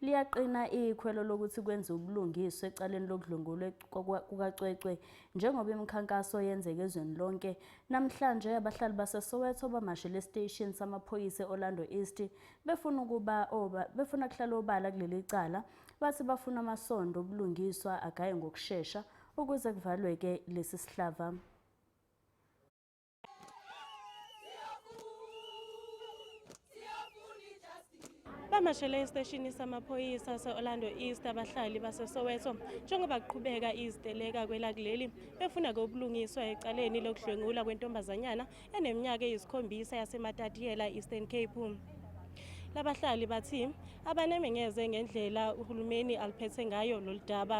Liyaqina ikhwelo lokuthi kwenziwe ubulungiswa ecaleni lokudlwengulwa kukacwecwe njengoba imikhankaso yenzeka ezweni lonke. Namhlanje abahlali baseSoweto bamashele esiteshini samaphoyisa e-Orlando East befuna ukuba befuna kuhlala obala kuleli cala bathi bafuna amasondo obulungiswa agaye ngokushesha ukuze kuvalwe-ke lesi sihlava. bamashele esiteshini samaphoyisa se-orlando east abahlali basesoweto njengoba kuqhubeka iziteleka kwelakuleli befuna kobulungiswa ecaleni lokudlwengula kwentombazanyana eneminyaka eyisikhombisa yasematadiyela eastern cape labahlali bathi abanemengeze ngendlela uhulumeni aliphethe ngayo lolu daba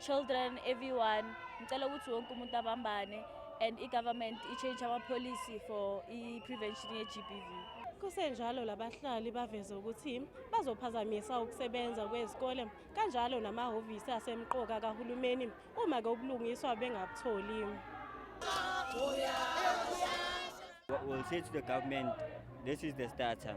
children everyone ngicela ukuthi wonke umuntu abambane and i-government i-change ama-policy for i-prevention ye-gbv kusenjalo labahlali baveze ukuthi bazophazamisa ukusebenza kwezikole kanjalo namahhovisi asemqoka kahulumeni uma ke ubulungiswa bengabutholi will say to the government this is the starter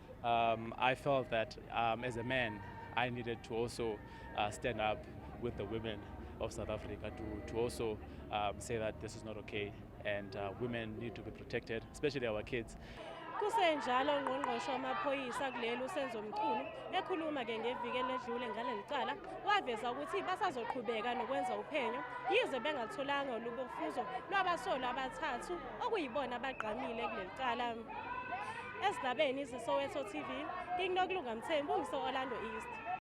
Um, I felt that um, as a man, I needed to also uh, stand up with the women of South Africa to, to also um, say that this is not okay and uh, women need to be protected, especially our kids. kusenjalo ngqongqoshe wamaphoyisa kuleli usenzo mchunu ekhuluma ke ngeviki eledlule ngaleli cala waveza ukuthi basazoqhubeka nokwenza uphenyo yize bengatholanga olubofuzo lwabasolwa abathathu okuyibona abagqamile kuleli cala Ezindabeni iziSoweto TV, King Nokulunga Mthembu ngiso-Orlando East.